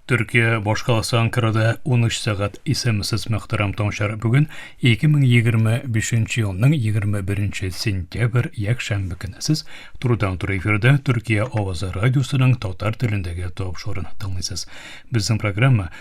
Төркия башкаласы Анкарада 13 сәгать исемсез мөхтәрәм таңчар бүген 2025 елның 21 сентябрь якшәмбе көне сез турыдан туры эфирдә Төркия авазы радиосының татар телендәге тапшыруын тыңлыйсыз. Безнең программа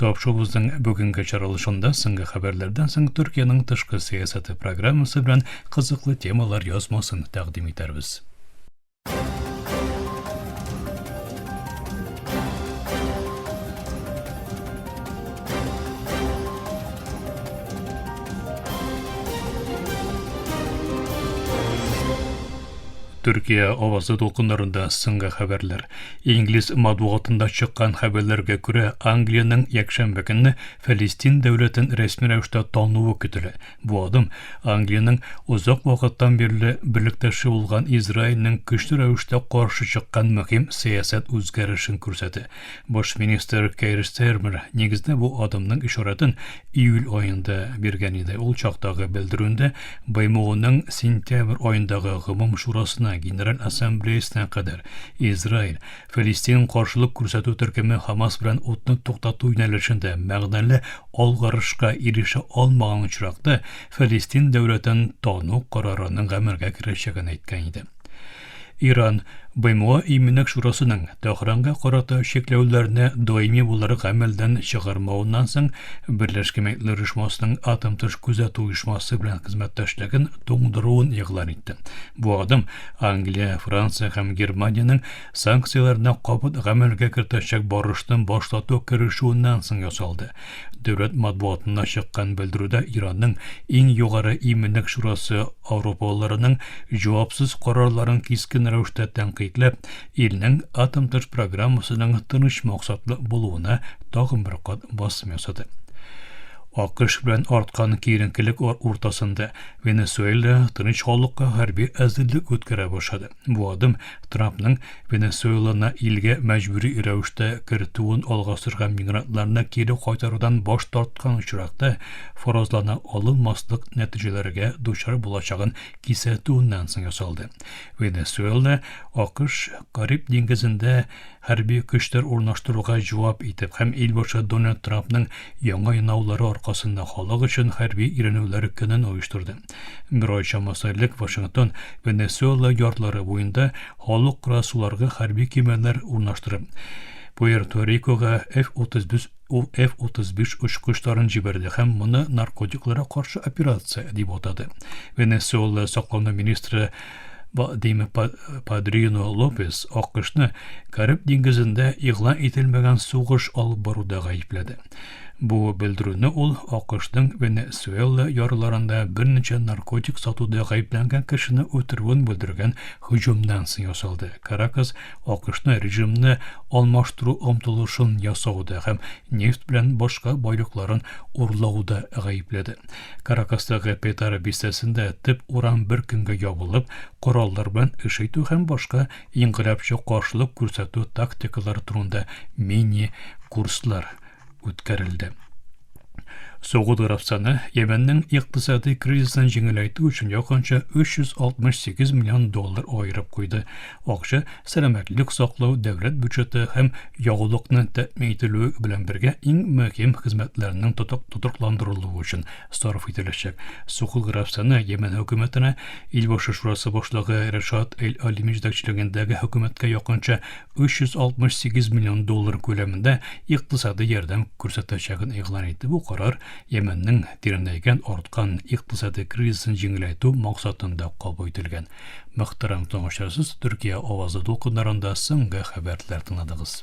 Тапшыгыбызның бүгенге чаралышында соңгы хәбәрләрдән соң Төркиянең тышкы сәясәте программасы белән кызыклы темалар язмасын тәкъдим итәрбез. Төркия авазы дулкыннарында соңгы хәбәрләр. Инглиз матбугатында чыккан хәбәрләргә күрә, Англиянең якшәмбе көнне Фәлестин дәүләтен рәсми рәвештә тануы көтелә. Бу адым Англиянең озак вакыттан бирле берлектәше булган Израильнең көчле рәвештә каршы чыккан мөһим сәясәт үзгәрешен күрсәтә. Баш министр Кэйр Стэрмер нигездә бу адымның ишарәтен июль аенда биргән иде. Ул чактагы белдерүендә БМОның сентябрь аендагы гомум шурасына, Генераль Ассамблеясына кадәр Израиль, Филистин каршылык күрсәтү төркеме Хамас белән утны туктату юнәлешендә мәгънәле алгарышка ирешә алмаган очракта Филистин дәүләтен тану карарының гамәлгә керәчәген әйткән иде. Иран БМО Иминлек шурасының Тәһранга карата чикләүләрне даими буларак гамәлдән чыгармавыннан соң Берләшкән Милләтләр Оешмасының атом тыш күзәтү оешмасы белән хезмәттәшлеген туңдыруын игълан итте. Бу адым Англия, Франция һәм Германиянең санкцияләрне кабат гамәлгә кертәчәк барышны башлату керешүеннән соң ясалды. Дәүләт матбугатында чыккан белдерүдә Иранның иң югары иминлек шурасы аурупалыларның җавапсыз карарларын кискен рәвештә тәнкыйтьләп, илнең атом тыш программасының тыныч максатлы булуына тагын бер кат басым ясады. АКШ белән арткан киеренкелек уртасында Венесуэла тыныч халыкка хәрби әзерлек үткәрә башлады. Бу адым Трампның Венесуэланы илгә мәҗбүри рәвештә кертүен алга сөргән мигрантларны кире кайтарудан баш тарткан очракта фаразлана алынмаслык нәтиҗәләргә дучар булачагын кисәтүеннән соң ясалды. Венесуэла АКШ Кариб диңгезендә хәрби көчләр урнаштыруга җавап итеп һәм ил башы Дональд Трампның яңа янаулары аркасында халык өчен хәрби өйрәнүләр көнен оештырды. Герой чамасы элек Вашингтон, Венесуэла ярлары буенда халыкара суларга хәрби кемәләр урнаштырып, Пуэрто-Рикога F-35 очкычларын җибәрде һәм моны наркотикларга каршы операция дип атады. Венесуэла саклану министры Вадим Падрино Лопес АКШны Кариб диңгезендә игълан ителмәгән сугыш алып баруда гаепләде. Бу белдерүне ул АКШның Венесуэла ярларында берничә наркотик сатуда гаепләнгән кешене үтерүен белдергән һөҗүмнән соң ясалды. Каракас АКШны режимны алмаштыру омтылышын ясауда һәм нефть белән башка байлыкларын урлауда гаепләде. Каракастагы Петара бистәсендә төп урам бер көнгә ябылып, кораллар белән эш итү һәм башка Инкыйлабчы каршылык күрсәтү тактикалары турында мини-курслар үткәрелде. Согуд Гарәбстаны Йәмәннең икътисади кризисын җиңеләйтү өчен якынча 368 миллион доллар аерып куйды. Акча сәламәтлек саклау, дәүләт бюджеты һәм ягулыкны тәэмин ителүе белән бергә иң мөһим хезмәтләрнең тотрыкландырылуы өчен сарыф ителәчәк. Сокол графствоны Йәмән хөкүмәтенә Илбашы шурасы башлыгы Рәшат Эль-Алими җитәкчелегендәге хөкүмәткә якынча 368 миллион доллар күләмендә икътисади ярдәм күрсәтәчәген игълан итте. Бу карар Йәмәннең тирәнәйгән, арткан икътисади кризисын җиңеләйтү максатында кабул ителгән. Мөхтәрәм тыңлаучылар, сез Төркия авазы дулкыннарында соңгы хәбәрләр тыңладыгыз.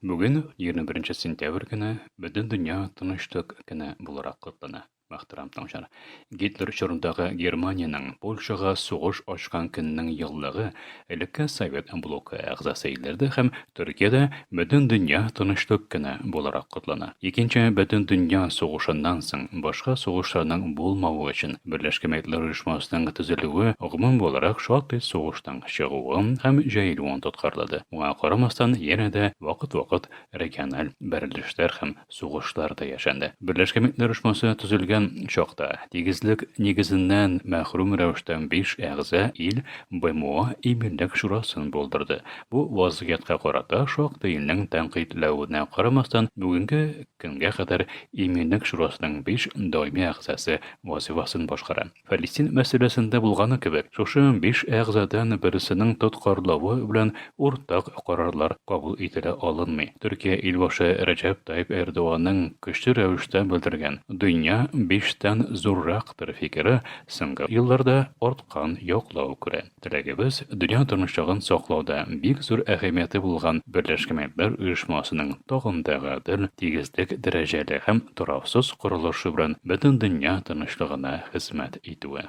Бүген, 21 нче сентябрь көне, бөтен дөнья Тынычлык көне буларак котлана. Мөхтәрәм тыңчылар, Гитлер чорындагы Германиянең Польшага сугыш ачкан көннең еллыгы элекке Совет блокы әгъзасы илләрдә һәм Төркиядә бөтен дөнья Тынычлык көне буларак котлана. Икенче бөтен дөнья сугышыннан соң башка сугышларның булмавы өчен Берләшкән Милләтләр Оешмасының төзелүе гомум буларак шактый сугышның чыгуын һәм җәелүен тоткарлады. Моңа карамастан, янә дә вакыт-вакыт региональ бәрелешләр һәм сугышлар да яшәнде. Берләшкән Милләтләр Оешмасы төзелгән чакта, тигезлек нигезеннән мәхрүм рәвештә биш әгъза ил БМО Иминлек шурасын булдырды. Бу вазгыятькә карата шактый илнең тәнкыйтьләвенә карамастан, бүгенге көнгә кадәр Иминлек шурасының биш даими әгъзасы вазыйфасын башкара. Фәлестин мәсьәләсендә булганы кебек, шушы биш әгъзадан берсенең тоткарлавы белән уртак карарлар кабул ителә алынмый. Төркия илбашы Рәҗәп Тайип Эрдоганның көчле рәвештә белдергән Дөнья биштән зуррактыр фикере соңгы елларда арткан яклау күрә. Теләгебез, дөнья тынычлыгын саклауда бик зур әһәмияте булган Берләшкән Милләтләр Оешмасының тагын да гадел, тигезлек, дәрәҗәле һәм тораксыз корылышы белән бөтен дөнья тынычлыгына хезмәт итүе.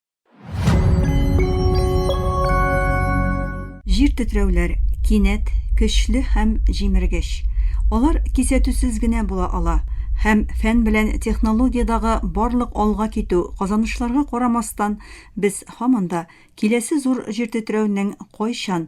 Җир тетрәүләр, кинәт, көчле һәм җимергеч. Алар кисәтүсез генә була ала. Һәм фән белән технологиядагы барлык алга китү, казанышларга карамастан, без һаман да киләсе зур җир тетрәүнең кайчан,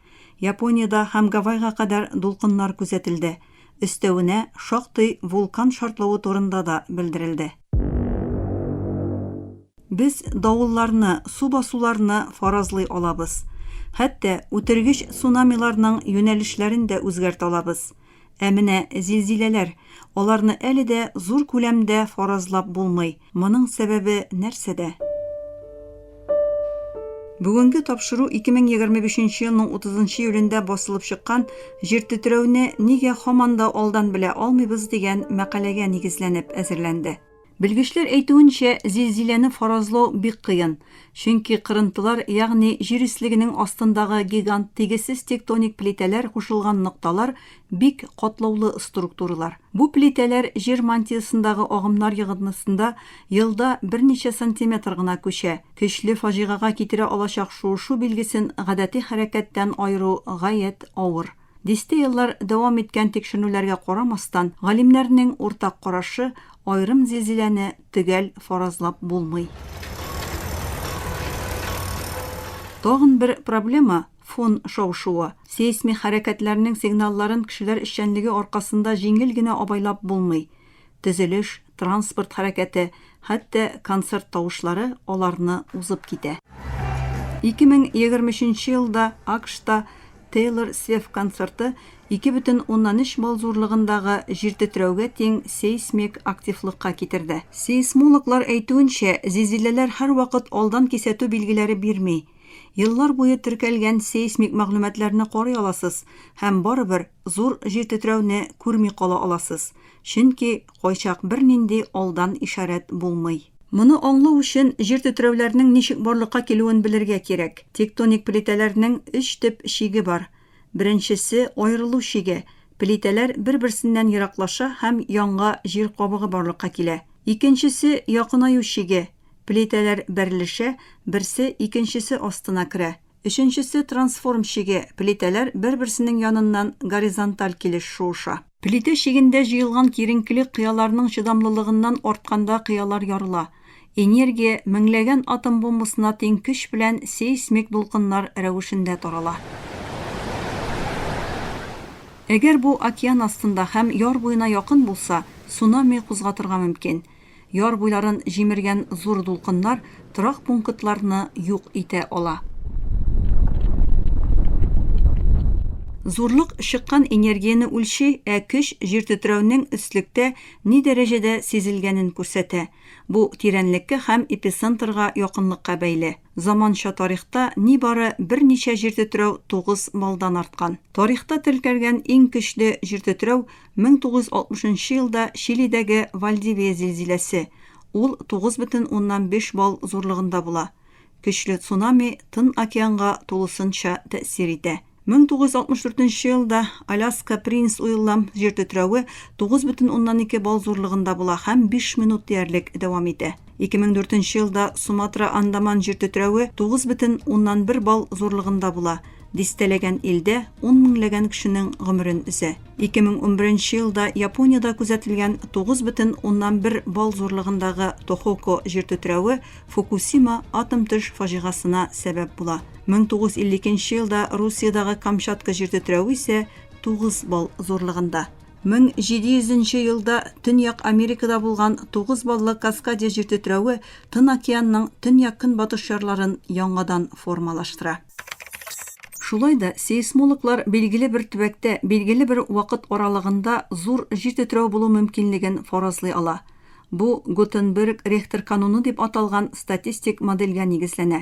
Япониядә һәм Гавайга кадәр дулкыннар күзәтелде. Өстәвенә, шактый вулкан шартлавы турында да белдерелде. Без давылларны, су басуларны фаразлый алабыз. Хәтта үтергеч цунамиларның юнәлешләрен дә үзгәртә алабыз. Ә менә зилзиләләр, аларны әле дә зур күләмдә фаразлап булмый. Моның сәбәбе нәрсәдә? Бүгенге тапшыру 2025 елның 30 июлендә басылып чыккан Җир тетрәүне нигә һаман да алдан белә алмыйбыз дигән мәкаләгә нигезләнеп әзерләнде. Белгечләр әйтүенчә, зилзиләне фаразлау бик кыен, чөнки кырынтылар, ягъни җир өслегенең астындагы гигант тигезсез тектоник плитәләр кушылган нокталар Бик катлаулы структуралар. Бу плитәләр җир мантиясендагы агымнар йогынтысында елда берничә сантиметр гына күчә. Көчле фаҗигага китерә алачак шуышу билгесен гадәти хәрәкәттән аеру гаять авыр. Дистә еллар дәвам иткән тикшеренүләргә карамастан, галимнәрнең уртак карашы, аерым зилзиләне төгәл фаразлап булмый. Тагын бер проблема, Фон шау-шуы, сейсмик хәрәкәтләрнең сигналларын кешеләр эшчәнлеге аркасында җиңел генә абайлап булмый. Төзелеш, транспорт хәрәкәте, хәтта концерт тавышлары аларны узып китә. 2023 нче елда АКШта Тейлор Свеф концерты 2,3 балл зурлыгындагы җиртетрәүгә тиң сейсмик активлыкка китерде. Сейсмологлар әйтүенчә, зилзиләләр һәрвакыт алдан кисәтү билгеләре бирми. Еллар буе теркәлгән сейсмик мәгълүматларны карый аласыз һәм барыбер зур җир тетрәүне күрми кала аласыз, чөнки кайчак бернинди алдан ишарәт булмый. Моны аңлау өчен җир тетрәүләрнең ничек барлыкка килүен белергә кирәк. Тектоник плитәләрнең өч төп чиге бар. Беренчесе, аерылу чиге, плитәләр бер-берсеннән ераклаша һәм янга җир кабыгы барлыкка килә. Икенчесе, якынаю чиге, Плитәләр бәрелешә, берсе икенчесе астына керә. Өченчесе трансформ чиге, плитәләр бер-берсенең яныннан горизонталь килеш шуыша. Плитә чигендә җыелган киеренкелек кыяларның чыдамлылыгыннан артканда кыялар ярыла. Энергия меңләгән атом бомбасына тиң көч белән сейсмик дулкыннар рәвешендә тарала. Әгәр бу океан астында һәм яр буена якын булса, цунами кузгатырга мөмкин. Яр буйларын җимергән зур дулкыннар торак пунктларны юк итә ала. Зурлык чыккан энергияне үлчи, ә көч җиртетрәүнең өслектә ни дәрәҗәдә сизелгәнен күрсәтә. Бу тирәнлеккә һәм эпицентрга якынлыкка бәйле. Заманча тарихта нибары берничә җиртетрәү тугыз баллдан арткан. Тарихта теркәлгән иң көчле җиртетрәү 1960 нчы елда Чилидәге Вальдивия зилзиләсе, ул 9,5 балл зурлыгында була. Көчле цунами Тын океанга тулысынча тәэсир итә. 1964 елда Аляска Принц Уиллам җир тетрәве 9,2 балл зурлыгында була һәм биш минут диярлек дәвам итә. 2004 нче елда Суматра-Андаман җир тетрәве 9,1 балл зурлыгында була, дистәләгән илдә ун меңләгән кешенең гомерен өзә. 2011 нче елда Япониядә күзәтелгән 9,1 балл зурлыгындагы Тохоко җир тетрәве Фукусима атом төш фаҗигасына сәбәп була. 1952 нче елда Русиядәге Камчатка җир тетрәве исә 9 балл зурлыгында. 1700 нче елда Төньяк Америкада булган тугыз баллы Каскадия җир тетрәве Тын океанның төньяк-көнбатыш ярларын яңадан формалаштыра. Шулай да сейсмологлар билгеле бер төбәктә билгеле бер вакыт аралыгында зур җир тетрәү булу мөмкинлеген фаразлый ала. Бу Гутенберг-Рехтер кануны дип аталган статистик модельгә нигезләнә.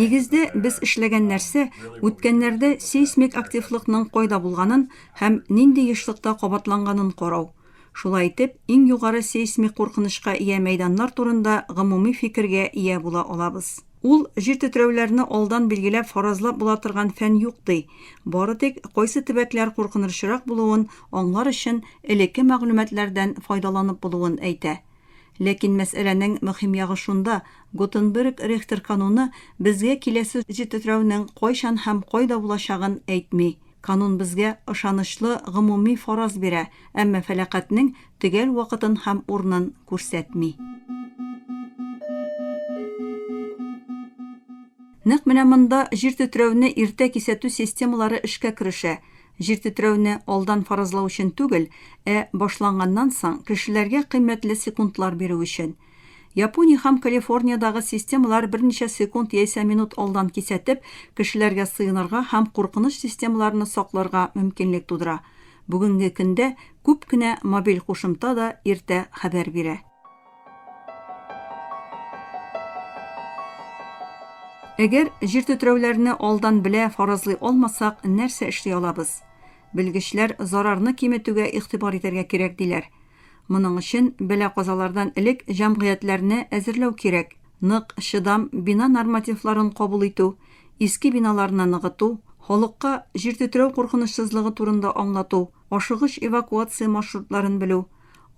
Нигездә, без эшләгән нәрсә, үткәннәрдә сейсмик активлыкның кайда булганын һәм нинди ешлыкта кабатланганын карау. Шулай итеп, иң югары сейсмик куркынычка ия мәйданнар турында гомуми фикергә ия була алабыз. Ул җир тетрәүләрне алдан билгеләп фаразлап була торган фән юк, ди, бары тик кайсы төбәкләр куркынырчырак булуын аңлар өчен элекке мәгълүматлардан файдаланып булуын әйтә. Ләкин мәсьәләнең мөһим ягы шунда, Гутенберг-Рехтер кануны безгә киләсе җитетрәүнең кайчан һәм кайда булачагын әйтми. Канун безгә ышанычлы гомуми фараз бирә, әмма фәлакатьнең төгәл вакытын һәм урынын күрсәтми. Нәкъ менә монда җир тетрәүне иртә кисәтү системалары эшкә керешә. Җир тетрәүне алдан фаразлау өчен түгел, ә башланганнан соң, кешеләргә кыйммәтле секундлар бирү өчен. Япония һәм Калифорниядагы системалар берничә секунд яисә минут алдан кисәтеп, кешеләргә сыенырга һәм куркыныч системаларны сакларга мөмкинлек тудыра. Бүгенге көндә күп кенә мобиль кушымта да иртә хәбәр бирә. Әгәр җир тетрәүләрне алдан белә фаразлый алмасак, нәрсә эшли алабыз? Белгечләр зарарны киметүгә игътибар итәргә кирәк диләр. Моның өчен бәла-казалардан элек җәмгыятьләрне әзерләү кирәк. Нык, чыдам бина нормативларын кабул итү, иске биналарны ныгыту, халыкка җир тетрәү куркынычсызлыгы турында аңлату, ашыгыч эвакуация маршрутларын белү,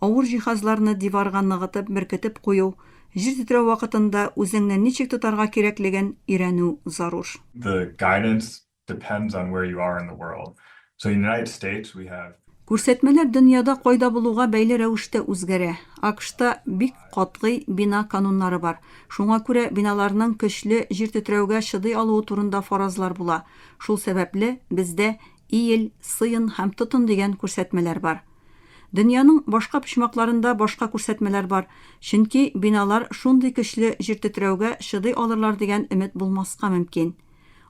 авыр җиһазларны диварга ныгытып беркетеп кую, җир тетрәү вакытында үзеңне ничек тотарга кирәклеген өйрәнү зарур. The guidance depends on where you are in the world. So in United States we have. Күрсәтмәләр дөньяда кайда булуга бәйле рәвештә үзгәрә. АКШта бик катгый бина кануннары бар. Шуңа күрә биналарның көчле җир тетрәүгә чыдый алуы турында фаразлар була. Шул сәбәпле, бездә Иел, сыен һәм тотын дигән күрсәтмәләр бар. Дөньяның башка почмакларында башка күрсәтмәләр бар, чөнки биналар шундый көчле җир тетрәүгә чыдый алырлар дигән өмет булмаска мөмкин.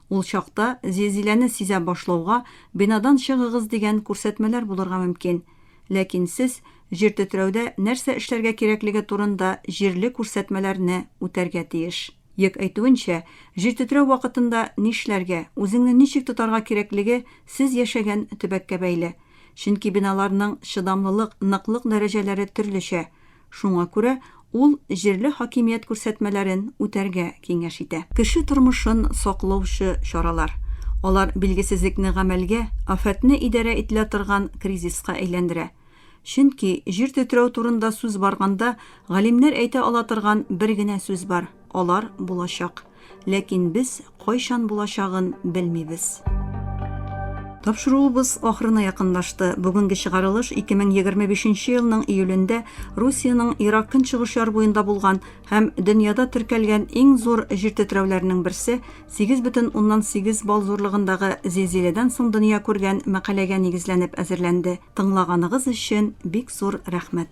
Ул чакта, зилзиләне сизә башлауга, бинадан чыгыгыз дигән күрсәтмәләр булырга мөмкин. Ләкин сез җир тетрәүдә нәрсә эшләргә кирәклеге турында җирле күрсәтмәләрне үтәргә тиеш. Йек әйтүенчә, җир тетрәү вакытында нишләргә, үзеңне ничек тотарга кирәклеге сез яшәгән төбәккә бәйле. Чөнки биналарның чыдамлылык, ныклык дәрәҗәләре төрлечә. Шуңа күрә ул җирле хакимият күрсәтмәләрен үтәргә киңәш итә. Кеше тормышын саклаучы чаралар. Алар билгесезлекне гамәлгә, афәтне идарә ителә торган кризиска әйләндерә. Чөнки, җир тетрәү турында сүз барганда, галимнәр әйтә ала торган бер генә сүз бар, алар булачак. ләкин без кайчан булачагын белмибез. Тапшыруыбыз ахырына якынлашты. Бүгенге чыгарылыш 2025 нче елның июлендә Русиянең Ирак көнчыгыш яр буенда булган һәм дөньяда теркәлгән иң зур җир тетрәүләренең берсе, 8,8 балл зурлыгындагы зилзиләдән соң дөнья күргән мәкаләгә нигезләнеп әзерләнде. Тыңлаганыгыз өчен бик зур рәхмәт!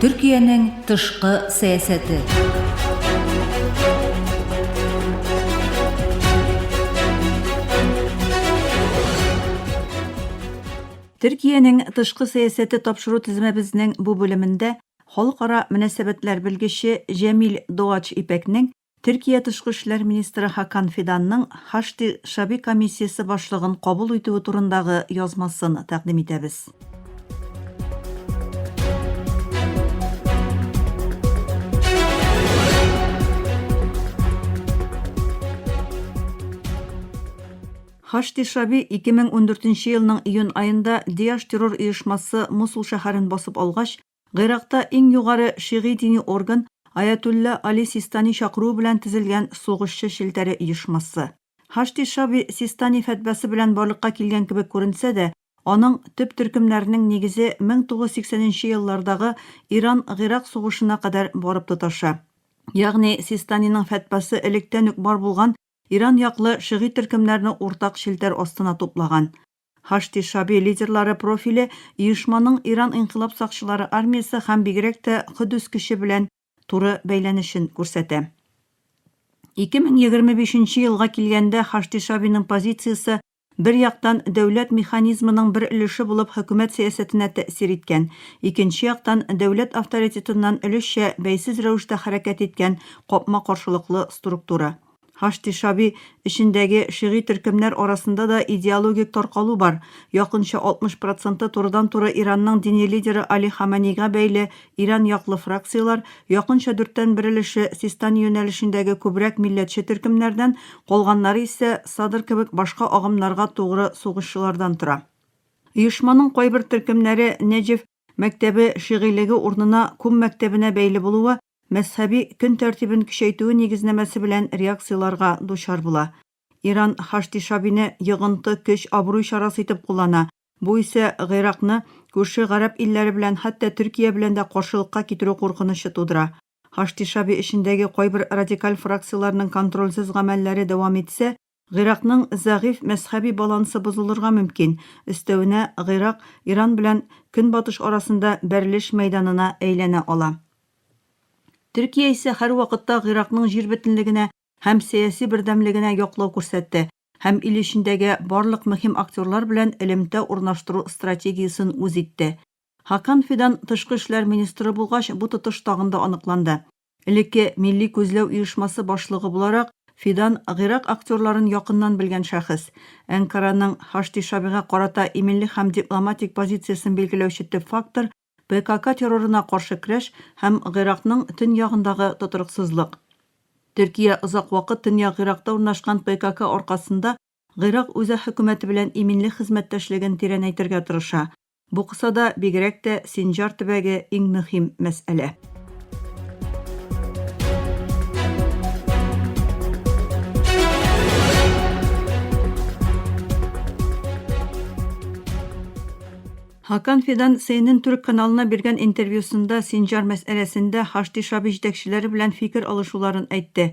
Төркиянең тышкы сәясәте. Төркиянең тышкы сәясәте тапшыру тезмәбезнең бу бүлемендә халыкара мөнәсәбәтләр белгече Җәмил Доач Ипәкнең Төркия тышкы эшләр министры Хакан Фиданның Хашди шәби комиссиясе башлыгын кабул итүе турындагы язмасын тәкъдим итәбез. Хашди шәби 2014 нче елның июнь аенда Диаш террор оешмасы Мосул шәһәрен басып алгач, Гыйракта иң югары шигый дини орган Аятулла Али Систани чакыруы белән тезелгән сугышчы челтәре оешмасы. Һашди Шаби Систани фәтвәсе белән барлыкка килгән кебек күренсә дә, аның төп төркемнәренең нигезе 1980 нче еллардагы Иран-Гыйрак сугышына кадәр барып тоташа. Ягъни Систаниның фәтвәсе электән үк бар булган Иран яклы шигый төркемнәрне уртак челтәр астына туплаган. Хашди Шаби лидерлары профиле оешманың Иран инкыйлаб сакчылары армиясе һәм бигрәк тә Котдус көче белән туры бәйләнешен күрсәтә. 2025 нче елга килгәндә Хашди Шабиның позициясе, бер яктан, дәүләт механизмының бер өлеше булып хөкүмәт сәясәтенә тәэсир иткән, икенче яктан, дәүләт авторитетыннан өлешчә бәйсез рәвештә хәрәкәт иткән капма-каршылыклы структура. Һашди-Шаби эчендәге шигъри төркемнәр арасында да идеологик таркалу бар. Якынча 60 проценты турыдан-туры Иранның дини лидеры Али Хаманейга бәйле Иран яклы фракцияләр, якынча дүрттән бер өлеше, Систани юнәлешендәге күбрәк милләтче төркемнәрдән, калганнары исә Садр кебек башка агымнарга тугры сугышчылардан тора. Оешманың кайбер төркемнәре Нәҗеф, мәктәбе шигыйлеге урнына кум мәктәбенә бәйле булуы мәзһәби көн тәртибен көчәйтүе нигезнәмәсе белән реакцияләрга дучар була. Иран Хашдишабине йогынты, көч, абруй чарасы итеп куллана, бу исә Гыйракны күрше гарәп илләре белән, хәтта Төркия белән дә каршылыкка китерү куркынычы тудыра. Хашдишаби эчендәге кайбер радикаль фракцияләрнең контрольсез гамәлләре дәвам итсә, Гыйракның зәгыйфь мәзһәби балансы бозылырга мөмкин, өстәвенә, Гыйрак Иран белән Көнбатыш арасында бәрелеш мәйданына әйләнә ала. Төркия исә һәрвакытта Гыйракның җир бөтенлегенә һәм сәяси бердәмлегенә яклау күрсәтте һәм ил эчендәге барлык мөһим актерлар белән элемтә урнаштыру стратегиясен үз итте. Хакан Фидан тышкы эшләр министры булгач, бу тотыш тагын да аныкланды. Элекке Милли күзләү оешмасы башлыгы буларак, Фидан гыйрак актерларын якыннан белгән шәхес. Әнкараның Һашди Шабига карата иминлек һәм дипломатик позициясен билгеләүче төп фактор, ПКК террорына каршы крәш һәм Гыйракның төньягындагы тотрыксызлык. Төркия озак вакыт Төньяк Гыйракта урнашкан ПКК аркасында Гыйрак үзәк хөкүмәте белән иминлек хезмәттәшлеген тирәнәйтергә тырыша, Бу кысада бигрәк тә Синҗар төбәге иң мөһим мәсьәлә. Хакан Фидан CNN төрек каналына биргән интервьюсында Синҗар мәсьәләсендә Хашди Шаби җитәкчеләре белән фикер алышуларын әйтте.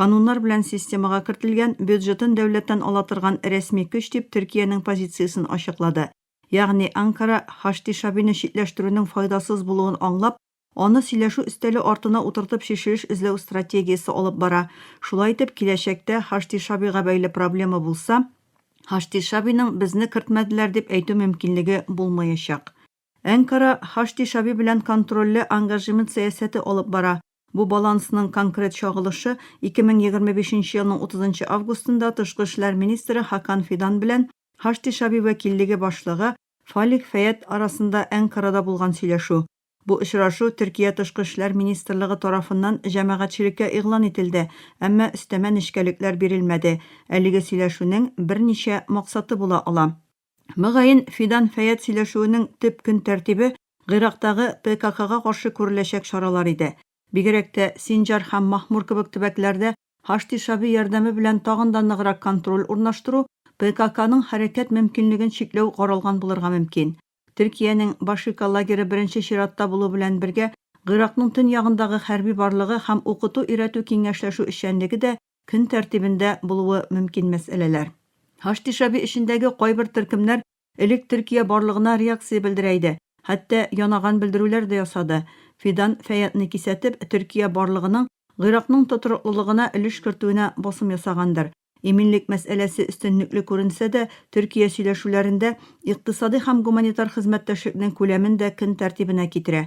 Кануннар белән системага кертелгән, бюджетын дәүләттән ала торган рәсми көч дип Төркиянең позициясен ачыклады. Ягъни Анкара, Хашти Шабины читләштерүнең файдасыз булуын аңлап, аны сөйләшү өстәле артына утыртып чишелеш эзләү стратегиясе алып бара. Шулай итеп, киләчәктә Хашти Шабига бәйле проблема булса, Хашти Шабиның безне кертмәделәр дип әйтү мөмкинлеге булмаячак. Әнкара Хашди Шаби белән контрольле ангажемент сәясәте алып бара. Бу балансның конкрет чагылышы 2025 нче елның 30 нчы августында тышкы эшләр министры Хакан Фидан белән Хашди Шаби вәкиллеге башлыгы Фалих Фәят арасында Әнкарада булган сөйләшү. Бу очрашу Төркия тышкы эшләр министрлыгы тарафыннан җәмәгатьчелеккә игълан ителде, әмма өстәмә нечкәлекләр бирелмәде. Әлеге сөйләшүнең берничә максаты була ала. Мөгаен, Фидан-Фәят сөйләшүенең төп көн тәртибе Гыйрактагы ТКХга каршы күреләчәк чаралар иде. Бигрәк тә Синҗар һәм Махмур кебек төбәкләрдә Һашди Шаби ярдәме белән тагын да ныграк контроль урнаштыру, ТКХның хәрәкәт мөмкинлеген чикләү каралган булырга мөмкин. Төркиянең Башика лагере беренче чиратта булу белән бергә Гыйракның төньягындагы хәрби барлыгы һәм укыту-өйрәтү-киңәшләшү эшчәнлеге дә көн тәртибендә булуы мөмкин мәсьәләләр. Һаштишаби эчендәге кайбер төркемнәр элек Төркия барлыгына реакция белдерә иде, хәтта янаган белдерүләр дә ясады. Фидан Фәятны кисәтеп, Төркия барлыгының Гыйракның тотрыклылыгына өлеш кертүенә басым ясагандыр. Иминлек мәсьәләсе өстенлекле күренсә дә, Төркия сөйләшүләрендә икътисади һәм гуманитар хезмәттәшлекнең күләмен дә көн тәртибенә китерә.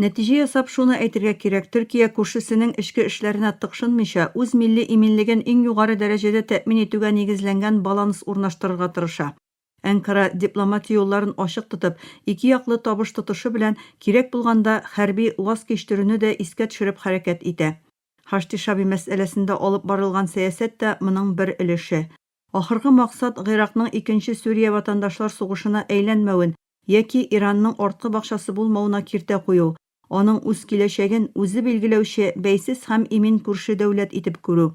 Нәтиҗә ясап шуны әйтергә кирәк, Төркия күршесенең эчке эшләренә тыкшынмыйча, үз милли иминлеген иң югары дәрәҗәдә тәэмин итүгә нигезләнгән баланс урнаштырырга тырыша. Әнкара, дипломатия юлларын ачык тотып, икеяклы табыш тотышы белән, кирәк булганда, хәрби ваз кичтерүне дә искә төшереп хәрәкәт итә. Хашти-Шаби мәсьәләсендә алып барылган сәясәт тә моның бер өлеше. Ахыргы максат Гыйракның икенче Сүрия ватандашлар сугышына әйләнмәвен яки Иранның арткы бакчасы булмавына киртә кую, аның үз киләчәген үзе билгеләүче бәйсез һәм имин күрше дәүләт итеп күрү.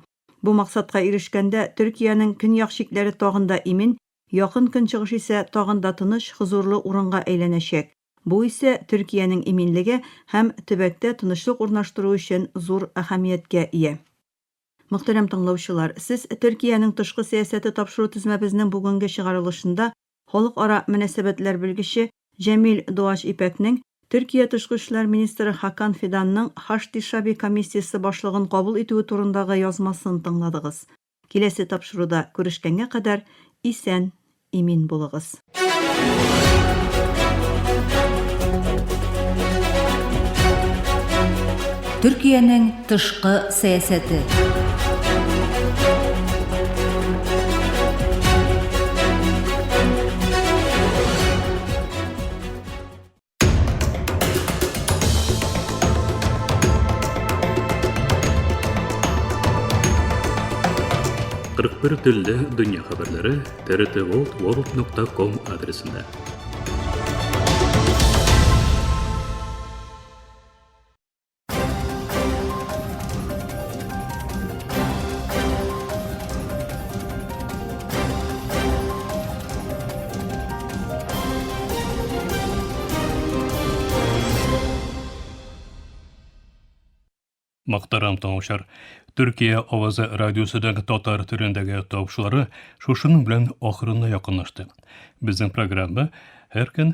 Бу максатка ирешкәндә Төркиянең көньяк чикләре тагын да имин, Якын Көнчыгыш исә тагын да тыныч, хозурлы урынга әйләнәчәк. Бу исә Төркиянең иминлеге һәм төбәктә тынычлык урнаштыру өчен зур әһәмияткә ия. Мөхтәрәм тыңлаучылар, сез Төркиянең тышкы сәясәте тапшыру тезмәбезнең бүгенге чыгарылышында халыкара мөнәсәбәтләр белгече Җәмил Дуач Ипәкнең Төркия тышкы эшләр министры Хакан Фиданның Хашди Шаби комиссиясе башлыгын кабул итүе турындагы язмасын тыңладыгыз. Киләсе тапшыруда күрешкәнгә кадәр исән Имин булыгыз. Төркиянең тышкы сәясәте. Кырык бер телле дөнья хәбәрләре трт волт ворлд нокта ком адресында. Мактарам тыңлаучылар. Төркия авазы радиосыдагы татар төрендәге тавышлары шушының белән ахырына якынлашты. Безнең программа һәр көн